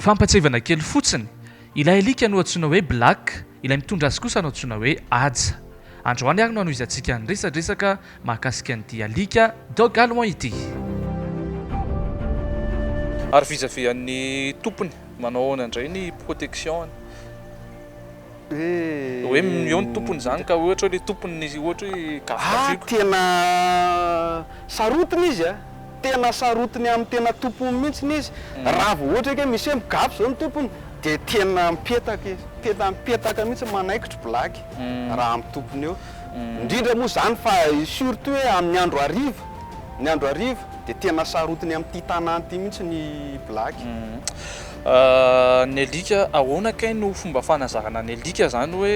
Fampatsiahivana kely fotsiny, ilay alika no antsoina hoe Black, ilay mitondra azy kosa no antsoina hoe Haja. Androany ary no hanohizantsika ny resadresaka Mahakasika an'ity alika dog allemand ity. Ary vizavian'ny tompony, manao ahoana indray ny protection-ny? Hoe eo ny tompony izany ka ohatra hoe ilay tompony ny ohatra hoe gafigafiako. Ah tena sarotiny izy a! Tena sarotiny amin'ny tena tompony mihitsy izy. Raha vao ohatra hoe misy hoe migafy izao ny tompony dia tena mipetaka izy. Tena mipetaka mihitsy, manaikitra blague raha amin'ny tompony eo. indrindra moa izany fa surtout hoe amin'ny andro hariva, ny andro hariva dia tena sarotiny amin'ity tanàna ity mihitsy ny blaky. Ny alika, ahoana kay no fomba fanazarana ny alika izany hoe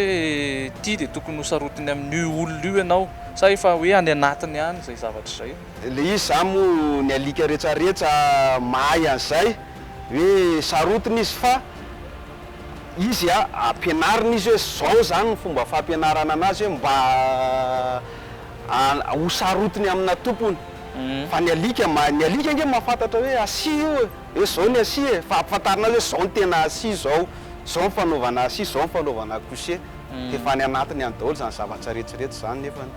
ity dia tokony ho sarotiny amin'io olona io ianao sa efa hoe any anatiny any izay zavatra izay? Ilay izy izany moa ny alika rehetrarehetra mahay an'izay hoe sarotiny izy fa. izy a, ampianarina izy hoe zao izany ny fomba fampianarana anazy hoe mba a ho sarotiny amina tompony fa ny alika mahay, ny alika ange mahafantatra hoe asia io e, hoe zao ny asia e, fa ampifantarina azy hoe zao ny tena asia zao, zao ny fanaovana asia, zao ny fanaovana coucher, dia efa any anatiny any daholo izany zavatra rehetra rehetra izany nefany.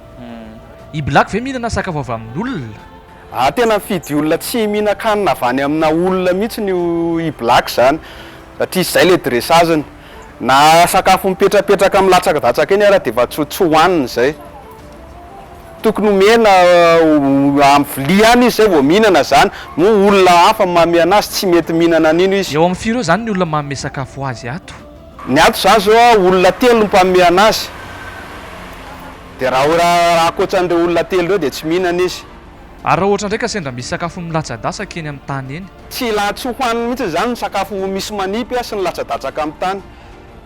I black ve mihinana sakafo avy amin'olona? Ah tena mifidy olona tsy mihinan-kanina avy any amina olona mihitsiny io i Black izany satria izay ilay dressage-ny. Na sakafo mipetrapetraka milatsakadatsaka eny ary dia efa tsy tsy hohaniny izay. Tokony omena amin'ny vilia ihany izy izay vao mihinana izany. Moa olona hafa no manome anazy tsy mety mihinana an'iny izy. Eo amin'ny firy eo izany ny olona manome sakafo ho azy ato? Ny ato izany izao an, olona telo no mpanome anazy, dia raha raha ankoatra an'ireo olona telo ireo dia tsy mihinana izy. Ary raha ohatra indray ka sendra misy sakafo milatsa-datsaka eny amin'ny tany eny? Tsy la, tsy hohaniny mihitsy izany ny sakafo misy manipy an, sy ny latsa-datsaka amin'ny tany.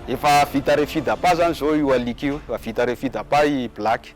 Efa vita refit d'appât izany izao io alika io, efa vita refit d'appât i Black.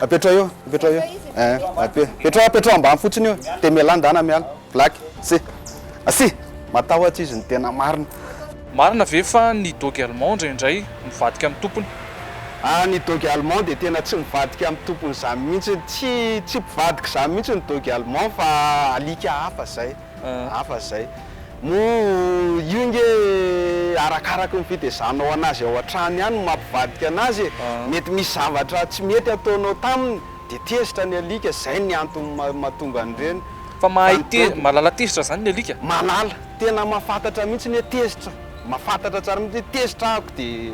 Apetraho eo, apetraho eo. Eh, ape, apetraho, apetraho ambany fotsiny io. Dia mialà ndana, miala. Black, si. Asi! Matahotra izy ny tena marina. Marina ve fa ny dogue allemand indraindray mivadika amin'ny tompony? Ah, ny dogue allemand dia tena tsy mivadika amin'ny tompony izany mihitsy. Tsy, tsy mpivadika izany mihitsy ny dogue allemand fa alika hafa izay. hafa izay. Moa io nge arakaraky ny fitezanao anazy ao an-trano ihany no mampivadika anazy e! Mety misy zavatra tsy mety ataonao taminy dia tezitra ny alika, izay ny antony mahatonga an'ireny. Fa mahay te, mahalala tezitra izany ny alika? Mahalala, tena mahafantatra mihitsy ny hoe tezitra, mahafantatra tsara mihitsy hoe tezitra aho dia.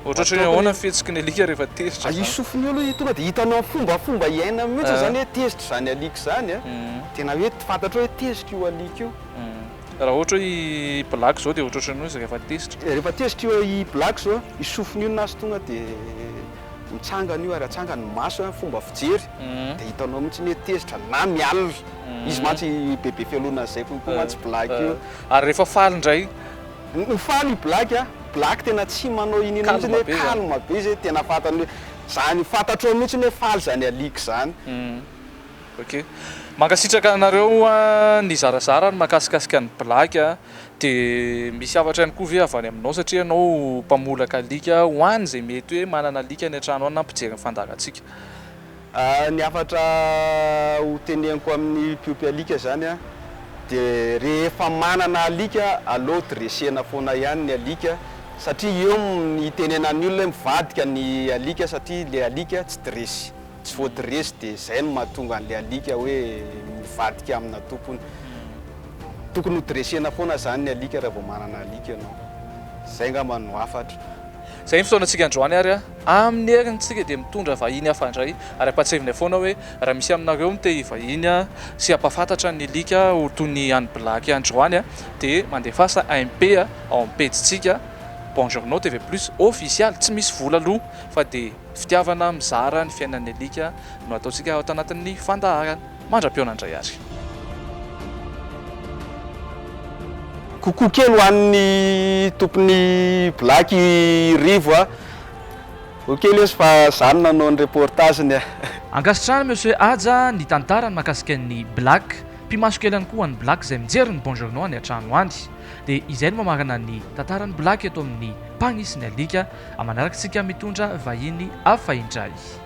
Ohatrohatry ny ahoana ny fihetsiky ny alika rehefa tezitra izany? Isofin'ny olona izy tonga dia hitanao ny fombafomba iainany mihitsy izany hoe tezitra izany alika izany. Tena hoe fantatrao hoe tezitra io alika io. Raha ohatra hoe i Black izao dia ohatrohatry ny hoe izy rehefa tezitra. Rehefa tezitra i Black izao, isofin'ny olona azy tonga dia mitsangana io ary atsangany ny masony, ny fomba fijery dia hitanao mihitsy hoe tezitra na mialona. Izy mantsy bebe fialonana an'izay kokoa mantsy Black io. Ary rehefa faly indray? Ho faly i black a. Black tena tsy manao ino ino mihitsy hoe calme be zay tena fantany hoe zany fantatrao mihitsy hoe faly zany alika zany. Ok. Mankasitraka anareo nizarazara ny makasikasika an'i Black a. Dia misy hafatra ihany koa ve avy any aminao satria ianao mpamolaka alika ho any izay mety hoe manana alika any an-trano any na mpijery ny fandaharantsika. Ny hafatra ho teneniko amin'ny mpiompy alika izany dia rehefa manana alika aleo dressena foana ihany ny alika satria eo ny hitenenan'ny olona hoe mivadika ny alika satria ilay alika tsy dress tsy voadressy dia izay no mahatonga an'ilay alika hoe mivadika amina tompony. Tokony ho dressena foana izany ny alika raha vao manana alika ianao. Izay angamba no hafatra. Izay ny fotoanantsika androany ary amin'ny heriny tsika dia mitondra vahiny hafa indray ary ampahatsiavinay foana hoe raha misy aminareo no te hivahiny sy hampahafantatra ny alika ho toy ny an'i Blaky androany dia mandefasa MP ao amin'ny pejintsika Bonjournaux TV Plus official tsy misy vola aloha fa dia fitiavana mizara ny fiainan'ny alika no ataontsika ato anatin'ny fandaharana. mandra-pihaona indray ary. Coucou kely ho an'ny tompon'ny black i Rivo a! Ho kely ozy fa za no nanao ny reportage-ny a! Ankasitrahana Monsieur Haja ny tantarany makasika an'ny Black, mpimaso kely ihany koa ho an'ny Black izay mijery ny Bonjourno any an-trano any. Dia izay no mamarana ny tantaran'ny Black eto amin'ny Mpagnisy ny Alika, manaraka antsika mitondra vahiny hafa indray.